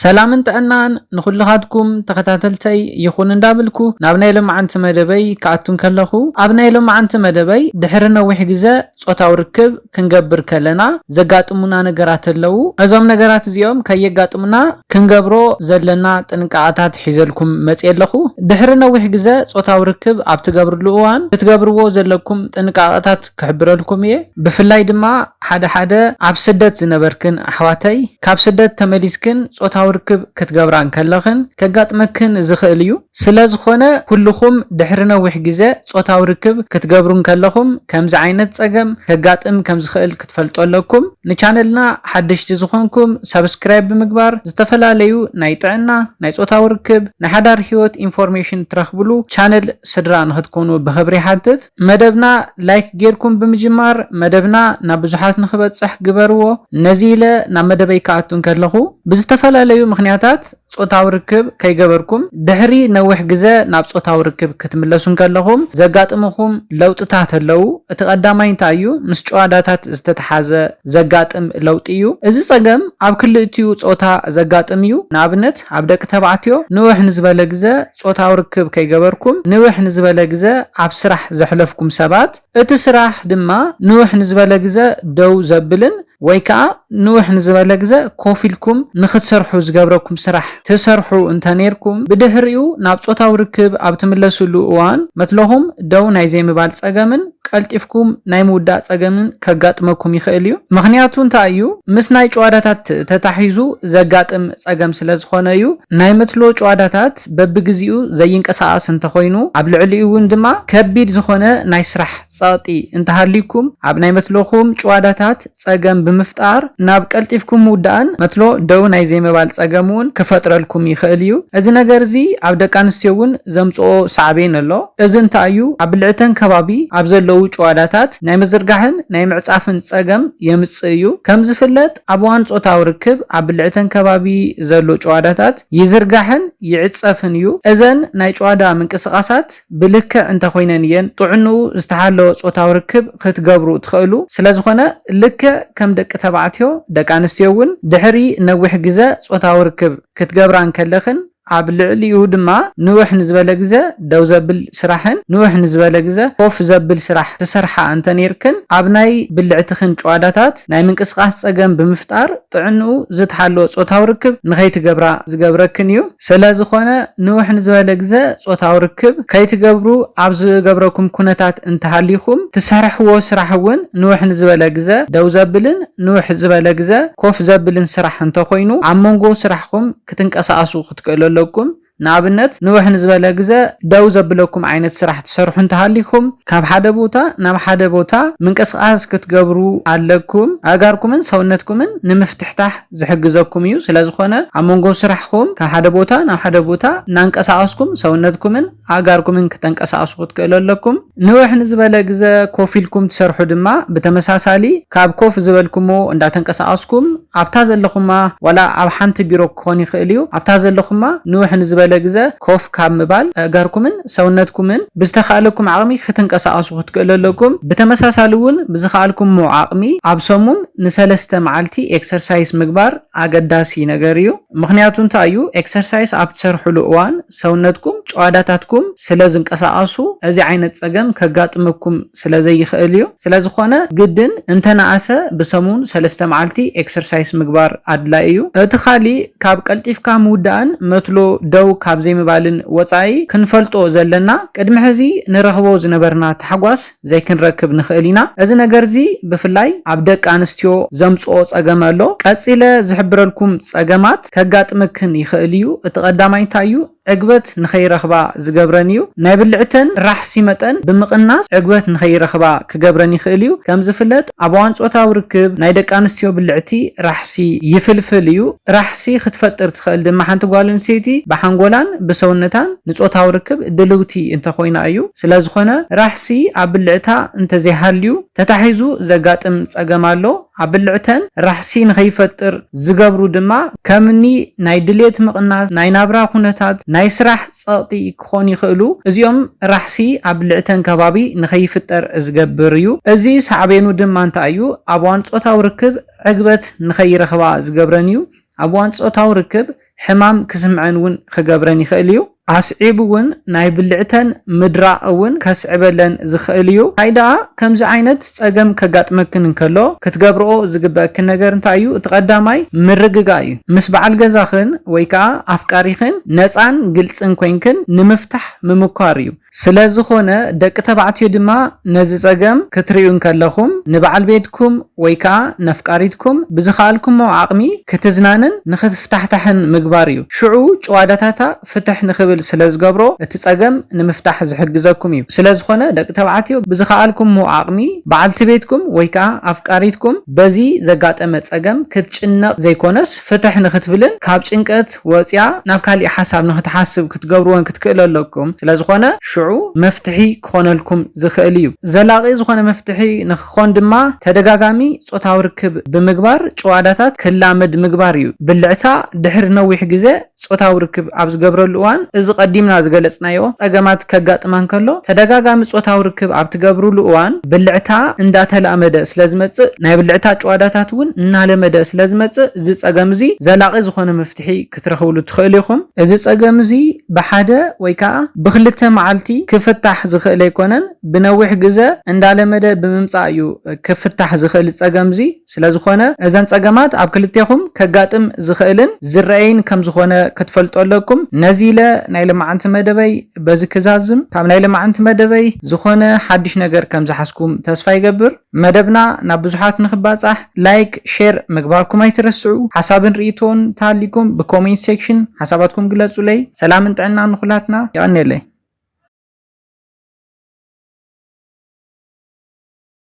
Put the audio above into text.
ሰላምን ጥዕናን ንኹልኻትኩም ተኸታተልተይ ይኹን እንዳብልኩ ናብ ናይ ሎምዓንቲ መደበይ ክኣቱ እንከለኹ ኣብ ናይ ሎምዓንቲ መደበይ ድሕሪ ነዊሕ ግዘ ፆታዊ ርክብ ክንገብር ከለና ዘጋጥሙና ነገራት ኣለው እዞም ነገራት እዚኦም ከየጋጥሙና ክንገብሮ ዘለና ጥንቃቐታት ሒዘልኩም መፅየ ኣለኹ ድሕሪ ነዊሕ ግዘ ፆታዊ ርክብ ኣብ ትገብርሉ እዋን ክትገብርዎ ዘለኩም ጥንቃቐታት ክሕብረልኩም እየ ብፍላይ ድማ ሓደ ሓደ ኣብ ስደት ዝነበርክን ኣሕዋተይ ካብ ስደት ተመሊስክን ጾታዊ ርክብ ክትገብራ እንከለኽን ከጋጥመክን ዝኽእል እዩ ስለ ዝኾነ ኩሉኹም ድሕሪ ነዊሕ ግዘ ጾታዊ ርክብ ክትገብሩ እንከለኹም ከምዚ ዓይነት ጸገም ከጋጥም ከም ዝኽእል ክትፈልጡ ኣለኩም ንቻነልና ሓደሽቲ ዝኾንኩም ሳብስክራይብ ብምግባር ዝተፈላለዩ ናይ ጥዕና ናይ ጾታዊ ርክብ ናይ ሓዳር ሂወት ኢንፎርሜሽን ትረኽብሉ ቻነል ስድራ ንኽትኮኑ ብኽብሪ ይሓትት። መደብና ላይክ ጌርኩም ብምጅማር መደብና ናብ ብዙሓት ንኽበጽሕ ግበርዎ። ነዚ ኢለ ናብ መደበይ ክኣቱ እንከለኹ ብዝተፈላለዩ ምኽንያታት ጾታዊ ርክብ ከይገበርኩም ድሕሪ ነዊሕ ግዘ ናብ ጾታዊ ርክብ ክትምለሱ እንከለኹም ዘጋጥምኹም ለውጥታት ኣለው። እቲ ቀዳማይ እንታይ እዩ? ምስ ጭዋዳታት ዝተትሓዘ ዘጋጥም ለውጢ እዩ። እዚ ጸገም ኣብ ክልእቲኡ ጾታ ዘጋጥም እዩ። ንኣብነት ኣብ ደቂ ተባዕትዮ ንውሕ ንዝበለ ግዘ ጾታዊ ርክብ ከይገበርኩም ንውሕ ንዝበለ ግዘ ኣብ ስራሕ ዘሕለፍኩም ሰባት፣ እቲ ስራሕ ድማ ንውሕ ንዝበለ ግዘ ደው ዘብልን ወይ ከኣ ንውሕ ንዝበለ ግዘ ኮፍ ኢልኩም ንኽትሰርሑ ዝገብረኩም ስራሕ ትሰርሑ እንተኔርኩም፣ ብድሕሪኡ ናብ ጾታዊ ርክብ ኣብ ትምለስሉ እዋን መትሎኹም ደው ናይ ዘይምባል ጸገምን፣ ቀልጢፍኩም ናይ ምውዳእ ጸገምን ከጋጥመኩም ይኽእል እዩ። ምኽንያቱ እንታይ እዩ? ምስ ናይ ጭዋዳታት ተታሒዙ ዘጋጥም ጸገም ስለ ዝኾነ እዩ። ናይ መትሎ ጭዋዳታት በብግዜኡ ዘይንቀሳቐስ እንተኾይኑ፣ ኣብ ልዕሊኡ እውን ድማ ከቢድ ዝኾነ ናይ ስራሕ ጸቕጢ እንተሃልዩኩም፣ ኣብ ናይ መትሎኹም ጭዋዳታት፣ ጸገም ብምፍጣር ናብ ቀልጢፍኩም ምውዳእን መትሎ ደው ናይ ዘይምባል ጸገም እውን ክፈጥረልኩም ይኸእል እዩ። እዚ ነገር እዚ ኣብ ደቂ ኣንስትዮ እውን ዘምጽኦ ሳዕቤን ኣሎ። እዚ እንታይ እዩ ኣብ ብልዕተን ከባቢ ኣብ ዘለዉ ጭዋዳታት ናይ ምዝርጋሕን ናይ ምዕጻፍን ጸገም የምጽእ እዩ። ከም ዝፍለጥ ኣብ እዋን ጾታዊ ርክብ ኣብ ብልዕተን ከባቢ ዘሎ ጭዋዳታት ይዝርጋሕን ይዕጸፍን እዩ። እዘን ናይ ጭዋዳ ምንቅስቓሳት። ብልክዕ እንተኾይነን እየን ጥዕንኡ ዝተሓለወ ጾታዊ ርክብ ክትገብሩ ትኸእሉ። ስለዝኾነ ልክዕ ከም ደቂ ተባዕትዮ ደቂ ኣንስትዮ እውን ድሕሪ ነዊሕ ግዘ ጾታዊ ርክብ ክትገብራ እንከለኽን ኣብ ልዕሊኡ ድማ ንውሕ ንዝበለ ግዘ ደው ዘብል ስራሕን ንውሕ ንዝበለ ግዘ ኮፍ ዘብል ስራሕ ትሰርሓ እንተነይርክን ኣብ ናይ ብልዕትኽን ጭዋዳታት ምኽንያት ናይ ምንቅስቓስ ጸገም ብምፍጣር ጥዕንኡ ዝተሓለወ ጾታዊ ርክብ ንኸይትገብራ ዝገብረክን እዩ። ሰለዝኾነ ንውሕ ንዝበለ ግዘ ጾታዊ ርክብ ከይትገብሩ ኣብ ዝገብረኩም ኩነታት እንተሃሊኹም ትሰርሕዎ ስራሕ እውን ንውሕ ንዝበለ ግዘ ደው ዘብልን ንውሕ ዝበለ ግዘ ኮፍ ዘብልን ስራሕ እንተኾይኑ ኣብ መንጎ ስራሕኹም ክትንቀሳቐሱ ክትክእሉ ኣለኩም። ንኣብነት ንውሕ ንዝበለ ግዘ ደው ዘብለኩም ዓይነት ስራሕ ትሰርሑ እንተሃሊኩም ካብ ሓደ ቦታ ናብ ሓደ ቦታ ምንቅስቃስ ክትገብሩ ኣለኩም ኣእጋርኩምን ሰውነትኩምን ንምፍትሕታሕ ዝሕግዘኩም እዩ ስለዝኮነ ኣብ መንጎ ስራሕኩም ካብ ሓደ ቦታ ናብ ሓደ ቦታ እናንቀሳቀስኩም ሰውነትኩምን ኣእጋርኩምን ክተንቀሳቅሱ ክትክእሉ ኣለኩም። ንውሕ ንዝበለ ግዘ ኮፍ ኢልኩም ትሰርሑ ድማ ብተመሳሳሊ ካብ ኮፍ ዝበልኩሞ እንዳተንቀሳቀስኩም ኣብታ ዘለኹማ ዋላ ኣብ ሓንቲ ቢሮ ክኾን ይኽእል እዩ ኣብታ ዘለኹማ ንውሕ ንዝበለ ግዘ ኮፍ ካብ ምባል ኣእጋርኩምን ሰውነትኩምን ብዝተኻእለኩም ዓቅሚ ክትንቀሳቀሱ ክትክእሉ ኣለኩም ብተመሳሳሊ እውን ብዝኻኣልኩሞ ዓቅሚ ኣብ ሰሙን ንሰለስተ መዓልቲ ኤክሰርሳይስ ምግባር ኣገዳሲ ነገር እዩ ምኽንያቱ እንታይ እዩ ኤክሰርሳይስ ኣብ ትሰርሕሉ እዋን ሰውነትኩም ጭዋዳታትኩም ስለ ዝንቀሳቐሱ እዚ ዓይነት ጸገም ከጋጥመኩም ስለ ዘይኽእል እዩ። ስለ ዝኾነ ግድን እንተ ነኣሰ ብሰሙን ሰለስተ መዓልቲ ኤክሰርሳይስ ምግባር ኣድላዪ እዩ። እቲ ኻሊእ ካብ ቀልጢፍካ ምውዳእን መትሎ ደው ካብ ዘይምባልን ወጻኢ ክንፈልጦ ዘለና ቅድሚ ሕዚ ንረኽቦ ዝነበርና ታሕጓስ ዘይክንረክብ ንኽእል ኢና። እዚ ነገር እዚ ብፍላይ ኣብ ደቂ ኣንስትዮ ዘምጽኦ ጸገም ኣሎ። ቀጺለ ዝሕብረልኩም ጸገማት። ከጋጥመክን ይኸእል እዩ። እቲ ቀዳማይ እንታይ እዩ ዕግበት ንኸይረኽባ ዝገብረን እዩ። ናይ ብልዕተን ራሕሲ መጠን ብምቕናስ ዕግበት ንኸይረኽባ ክገብረን ይኽእል እዩ። ከም ዝፍለጥ ኣብ እዋን ጾታዊ ርክብ ናይ ደቂ ኣንስትዮ ብልዕቲ ራሕሲ ይፍልፍል እዩ። ራሕሲ ክትፈጥር ትኸእል ድማ ሓንቲ ጓል ኣንስተይቲ ብሓንጎላን ብሰውነታን ንጾታዊ ርክብ ድልውቲ እንተኾይና እዩ። ስለዝኾነ ራሕሲ ኣብ ብልዕታ እንተዘይሃልዩ ተታሒዙ ዘጋጥም ጸገም ኣሎ። ኣብ ብልዕተን ራሕሲ ንኸይፈጥር ዝገብሩ ድማ ከምኒ ናይ ድሌት ምቕናስ፣ ናይ ናብራ ኩነታት፣ ናይ ስራሕ ጸቕጢ ክኾኑ ይኽእሉ። እዚኦም ራሕሲ ኣብ ብልዕተን ከባቢ ንኸይፍጠር ዝገብር እዩ። እዚ ሳዕቤኑ ድማ እንታይ እዩ? ኣብ እዋን ጾታዊ ርክብ ዕግበት ንኸይረኽባ ዝገብረን እዩ። ኣብ እዋን ጾታዊ ርክብ ሕማም ክስምዐን እውን ኽገብረን ይኽእል እዩ። ኣስዒቡ እውን ናይ ብልዕተን ምድራቕ እውን ከስዕበለን ዝኽእል እዩ። እንታይ ደኣ ከምዚ ዓይነት ጸገም ከጋጥመክን እንከሎ ክትገብርኦ ዝግበእክን ነገር እንታይ እዩ? እቲ ቀዳማይ ምርግጋእ እዩ። ምስ በዓል ገዛኽን ወይ ከኣ ኣፍቃሪኽን ነጻን ግልጽን ኮይንክን ንምፍታሕ ምምኳር እዩ። ስለ ዝኾነ ደቂ ተባዕትዮ ድማ ነዚ ጸገም ክትርእዩ እንከለኹም ንበዓል ቤትኩም ወይ ከኣ ነፍቃሪትኩም ብዝኸኣልኩሞ ዓቕሚ ክትዝናንን ንኽትፍታሕታሕን ምግባር እዩ። ሽዑ ጭዋዳታታ ፍትሕ ንኽብል ስለ ዝገብሮ እቲ ጸገም ንምፍታሕ ዝሕግዘኩም እዩ። ስለ ዝኾነ ደቂ ተባዕትዮ ብዝኸኣልኩሞ ዓቕሚ በዓልቲ ቤትኩም ወይ ከኣ ኣፍቃሪትኩም በዚ ዘጋጠመ ጸገም ክትጭነቕ ዘይኮነስ ፍትሕ ንኽትብልን ካብ ጭንቀት ወጽያ ናብ ካሊእ ሓሳብ ንክትሓስብ ክትገብርዎን ክትክእሉ ኣለኩም ስለዝኾነ ሽዑ መፍትሒ ክኾነልኩም ዝኽእል እዩ ዘላቒ ዝኾነ መፍትሒ ንክኾን ድማ ተደጋጋሚ ጾታዊ ርክብ ብምግባር ጭዋዳታት ክላመድ ምግባር እዩ ብልዕታ ድሕሪ ነዊሕ ግዘ ጾታዊ ርክብ ኣብ ዝገብረሉ እዋን እዚ ቀዲምና ዝገለጽናዮ ጸገማት ከጋጥማ እንከሎ ተደጋጋሚ ጾታዊ ርክብ ኣብ ትገብርሉ እዋን ብልዕታ እንዳተላመደ ስለዝመጽእ ናይ ብልዕታ ጭዋዳታት እውን እናለመደ ስለዝመጽእ እዚ ጸገም እዚ ዘላቒ ዝኾነ መፍትሒ ክትረኽብሉ ትኽእሉ ኢኹም። እዚ ጸገም እዚ ብሓደ ወይ ከኣ ብኽልተ መዓልቲ ክፍታሕ ዝኽእል ኣይኮነን። ብነዊሕ ግዘ እንዳለመደ ብምምጻእ እዩ ክፍታሕ ዝኽእል ጸገም እዚ። ስለዝኾነ እዘን ጸገማት ኣብ ክልቴኹም ከጋጥም ዝኽእልን ዝረኣይን ከምዝኾነ ክትፈልጡ ኣለኩም። ነዚ ኢለ ናይ ለማዓንቲ መደበይ በዚ ክዛዝም። ካብ ናይ ለማዓንቲ መደበይ ዝኾነ ሓድሽ ነገር ከምዝሓዝኩም ተስፋ ይገብር። መደብና ናብ ብዙሓት ንክባጻሕ ላይክ ሼር ምግባርኩም ኣይትረስዑ ሓሳብን ሪኢቶን ተሃሊኩም ብኮሜንት ሴክሽን ሓሳባትኩም ግለጹለይ ሰላምን ጥዕናን ንኩላትና የቀንየለይ።